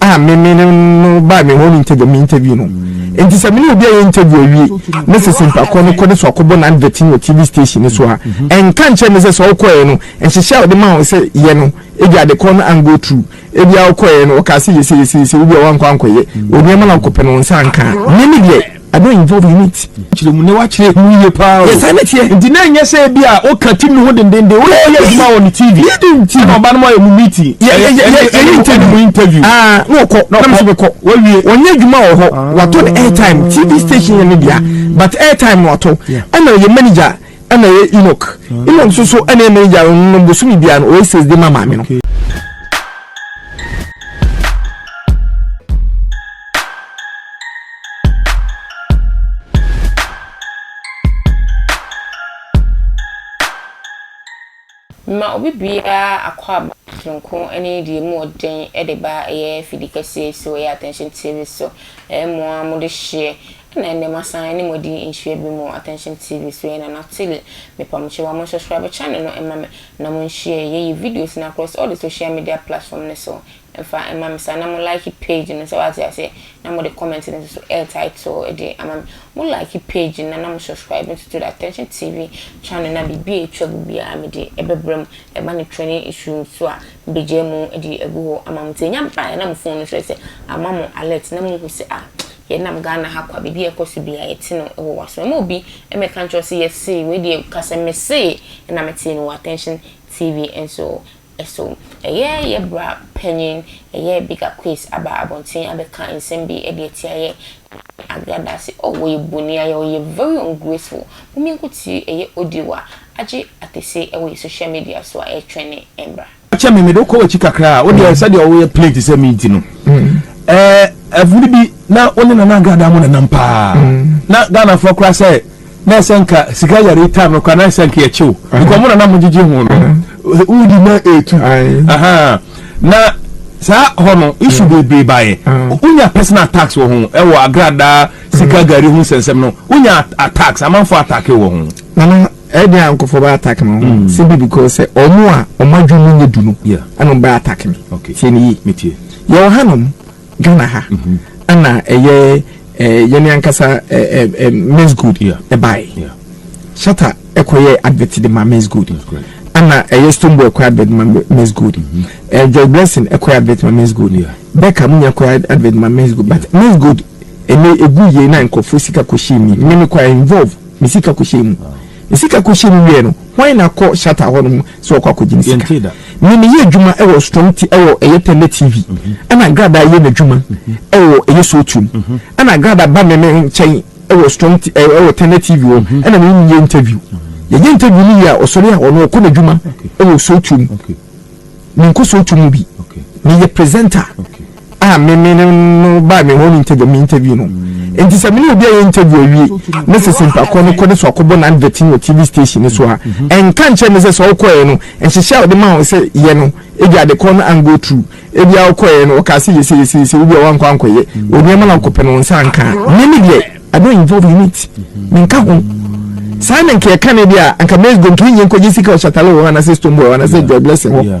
a me me ne no baa me home interview me interview no nti sɛ me ne obi a yɛ interview awie na sɛ simpa kɔ no kɔ ne so akɔbɔ na advert no wɔ tv station no so a ɛnka nkyɛn me sɛ sɛ ɔkɔɛ no nhyehyɛ a ɔde ma wɔn sɛ yɛ no ebi ade kɔ no an go through ebi a ɔkɔɛ no ɔka sɛ yɛsɛ yɛsɛ yɛsɛ obi a wankɔ ankɔyɛ obi ama na ɔkɔpɛ no wɔn nsa anka me ne deɛ I don't involve in it. Kyerɛ mu na wakyerɛ mu yie paa o. Yɛsan ne teɛ. Nti na ɛnyɛ sɛ ebi a ɔka ti ne ho dendenden o yɛ adwuma wɔ ne TV. Yɛ de nti. Ɛna ɔba no mu ayɛ mu meeting. Yɛ yɛ yɛ yɛ yɛ interview. Mu interview. Aa ah, na ɔkɔ na ɔkɔ. Ɛna ɔkɔ. Wɔwie. Wɔnyɛ adwuma wɔ hɔ. Ah. Wato ne airtime TV station yɛ ne bia but airtime no wato. Ɛna ɔyɛ manager ɛna ɔyɛ Enoch. Ah. Enoch nso so ɛna yɛ manager no bosomi bia no ɔyɛ sales de ma maame no. Mema obi biara akwaaba soronko ne deɛ mu wɔ den de ba ɛyɛ fidi kɛseɛ yi so ɛyɛ Attention TV so ɛyɛ mo ara mo de hyeɛ ɛna ɛnɛ masan ne mo adi nhyia bi mo Attention TV so ɛyɛ Nana Tilly mepa mo kyɛw a mo subscribe channel no ɛma me na mo nhyia yɛ yi videos no akorɔ so all the social media platform no so Ɛfa ma me saa na mo like page no sɛ wate aseɛ na mo de comment no nso air title de ama me mo like page no na na mo subscribe nso to the attention TV channel na biribi a ɛtwa gu biara me de ɛbɛbrɛ mo ɛba ne training issue nso a me bɛgyae mu de agu hɔ ama mo nti ɛnya baeɛ a na mo phone no kyerɛ sɛ ama mo alert na mo hu sɛ ah yɛ nam Ghana ha kwa biribi a ɛkɔ so biara yɛte no wɔ waso ɛma obi mmɛka nkyerɛ wo sɛ yɛse wei deɛ kasɛ mesee na metee no wɔ attention TV nso So ɛyɛ yɛ bra panyin ɛyɛ bigger quiz aba abɔnten abɛka nsɛm bi de atia yɛ ne Agra Daase oh wɔyɛ boni ayɛ ɔyɛ very ungraceful mo mienko tiri ɛyɛ audio a agye atese ɛwɔ yɛ social media so a ɛtwɛne ɛmbra. Fakyɛ me mede wo kɔ wakyi kakra a wodeɛ sɛdeɛ wo yɛ plain te sɛ me nti no ɛɛ ɛfiri bi na wo ne Nana Agradaa mo nenam paa na Ghana foɔ koraa sɛ. na ɛsɛ nka sika yare yi time no kora na ɛsɛ nka yɛkye wo nka ɔmo na na mogyegye ho no wodi na ɛtu na saa hɔ no isu bebree baeɛ wonya personal attacks wɔ ho ɛwɔ agradaa sika gari ho nsɛnsɛm no wonya attacks amanfoɔ attack wɔ ho nana ɛdi a nkɔfɔ bɛ attack mi ho si bi because sɛ ɔmo a ɔmo adwuma mu nye du no ɛna ɔmo bɛ attack mi tie ni yie yɛ wɔ hanom Ghana ha ɛna ɛyɛ yɛn ankasa Miss Good ɛbae Shatta ɛkɔyɛ advert de ma Miss Good ɛna ɛyɛ Stonebwoy ɛkɔyɛ advert ma Miss Good Joy Blessing ɛkɔyɛ advert ma Miss Good Becca mu nyɛ ɛkɔyɛ advert ma Miss Good but Miss Good ɛnɛ egu yie na nkorɔfoɔ sika kɔhyɛ mu mmemme kɔ involve me sika kɔhyɛ mu me sika kɔhyɛ mu wie no wɔn na kɔ Shatta hɔ nom. sɛ ɔkɔ akɔgyina sika me meyɛ adwuma wɔ strong ti wɔ ɛyɛ tɛlɛ tv ɛna agradaa yɛ n'adwuma wɔ ɛyɛ sotum ɛna agradaa ba me me nkyɛn wɔ strong ti wɔ tɛlɛ tv wɔ ɛna me nyɛ interview yɛyɛ interview no yɛ a ɔsɔre a ɔno ɔkɔ n'adwuma wɔ sotum menkɔ sotum bi meyɛ presenter a me me ne no baa me home interview me interview no nti sɛ me ne obi a yɛ interview awie na sɛ simpa kɔ no kɔ ne so akɔbɔ na advert no wɔ tv station no so a ɛnka nkyɛn me sɛ sɛ ɔkɔɛ no nhyehyɛ a ɔde ma wɔn sɛ yɛ no ebi ade kɔ no an go through ebi a ɔkɔɛ no ɔka sɛ yɛsɛ yɛsɛ yɛsɛ obi a wankɔ ankɔyɛ onneɛma na ɔkɔpɛ no wɔn nsa anka me ne deɛ I don't involve in it menka ho saa na nka yɛka ne deɛ a anka mɛs gomtumi nyɛ nkɔgye sika ɔsatale wɔ hɔ anasɛ stone boy wɔ anasɛ joy blessing hɔ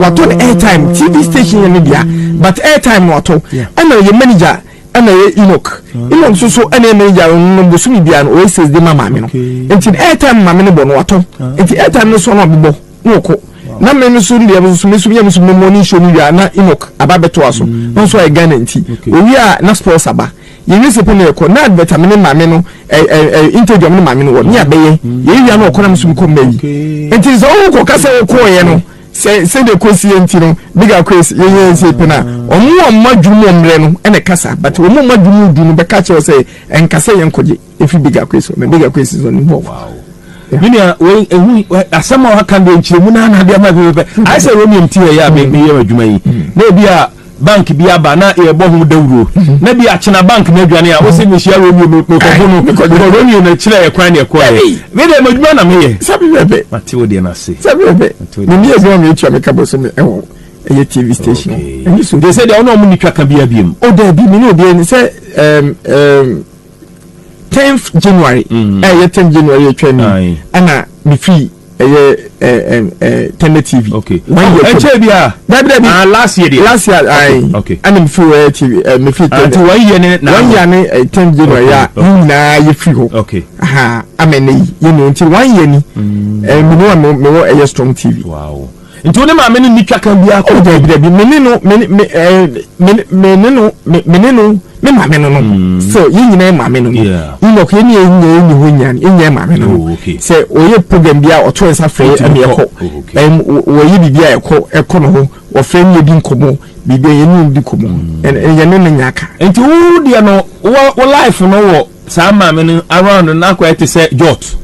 wato ne airtime tv station yɛ ne dea but airtime no wato ɛna yɛ manager ɛna yɛ enoch mm. enoch nso so ɛna yɛ manager no bosomi bia no ɔyɛ sales de ma maame no nti airtime maame no bɔ no wato ah. nti airtime no so ɔno abobɔ na ɔkɔ na me no so deɛ nso me so yɛ me so me mɔ ne nsuo no wia na enoch aba bɛto aso mm. na nso ayɛ ghana nti owie a na sports aba Yɛ wiase pɛ na yɛ kɔ. Naa bɛta me ne maame no ɛ ɛ ɛ interview a me ne maame no wɔ ne abɛyɛ. Yɛ wia no ɔkɔ na me so me kɔ mɛwi. Nti no sɛ wo kɔ ka sɛ wo kɔɔ yɛ no sɛ sɛ deɛ kɔ si yɛ nti no big akwes yɛ yɛ nsi pɛ na ɔmo ɔmo adwene mu ɔmrɛ no ɛna ɛka saa but ɔmo ɔmo adwene mu du no bɛka kyerɛ wo sɛ ɛnka sɛ yɛ nkɔ gye. Efi bigger quiz hɔ, mɛ bigger quiz nso nim hɔ. Me nua, wei ehu asɛm a waka deɛ nkyerɛmu na anadeɛ ama pɛpɛpɛ. Mm. Ayɛ sɛ Romeo ti yɛ a mm. meyɛ adwuma yi. Mm. Na ebi a bank bi aba na yɛbɔ ho dawuro na bi akyena bank no adwane a wosɛ mehyia romeo mekɔfo no bikɔ romeo no kyerɛ yɛ kwan ne ɛkɔɛ medeɛ madwuma na meyɛ mate wo deɛ no ase mene adwuma meɛtua meka bɔ so me ɛwɔ ɛyɛ tv station ɛne so deɛ sɛ deɛ wone ɔmo ne twa ka bia biam o daabi mene obiɛ ne sɛ tenth january mm. ɛyɛ eh, tenth january atwa ni ɛna mefi ɛyɛ tɛnɛ tv ɛkyɛ bi a dabi dabi ah last year deɛ last year ayi ɛna mefi wɔ ɛyɛ tv ɛ mefi tɛnɛ nti wɔn yɛ ne na wɔn yɛ ne eh, tenth january a ne nyinaa yɛ firi hɔ aha ama ne yi yɛ ne nti wɔn yɛ ni ɛɛ mene wɔn mewɔ ɛyɛ strong tv. Wow. Nti wo ne maame no nni twakan biara kɔ. Oh dabi dabi me ne no me me ɛɛ eh, me me ne no me me ne no me maame no no. Mm. Sɛ yɛn nyinaa yɛ maame no no. Enoch yɛn nyɛ nyɛ yɛn nyɛ hɔ nyɛ yɛn nyɛ maame no. Oh, Sɛ ɔyɛ program bi a ɔto nsa fɛ yɛ ɛmi ɛkɔ. Ɛm wɔyɛ biribi a ɛkɔ ɛkɔ no ho wɔfɛ mi edi nkɔmɔ biribi a yɛn ni di nkɔmɔ. Mm. Ɛn yɛn ne ne nya aka. Nti wo deɛ no wɔ wɔ life no wɔ. saa maame no around no na akɔyɛ te sɛ jot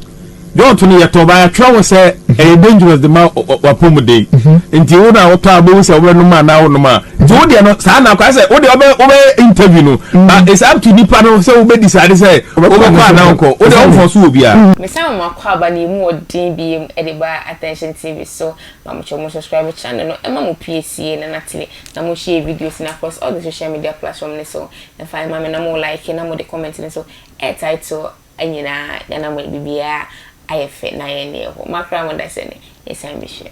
jot no yɛtɔ ba yɛatwerɛ wo sɛ mhm. ɛyɛ dangerous de ma wapɔmuden mhm. nti wo na wotɔ a wobɛhu sɛ wobɛnom a na wonom a nti wo deɛ no saa na akɔyɛ sɛ wo deɛ wobɛyɛ interview no mhm. but it's up to nipa no sɛ wobɛdi saa de sɛ wobɛkɔ a na wokɔ wo deɛ womfɔ so wɔ biara mesan wɔn akɔ aba na ɛmu ɔden bi mu de ba attention tv so ma mo kyɛ mo subscribe channel no ɛma mo pie sie na natele na mo share videos na across all the social media platform ne so Fa ma me na mo like na mo de comment no so eh title nyinaa na na mo bibiaa ayɛ fɛ na ayɛ neɛ ɛhɔ ma koraa mo da sɛ nɛ yɛ san bi hwɛ.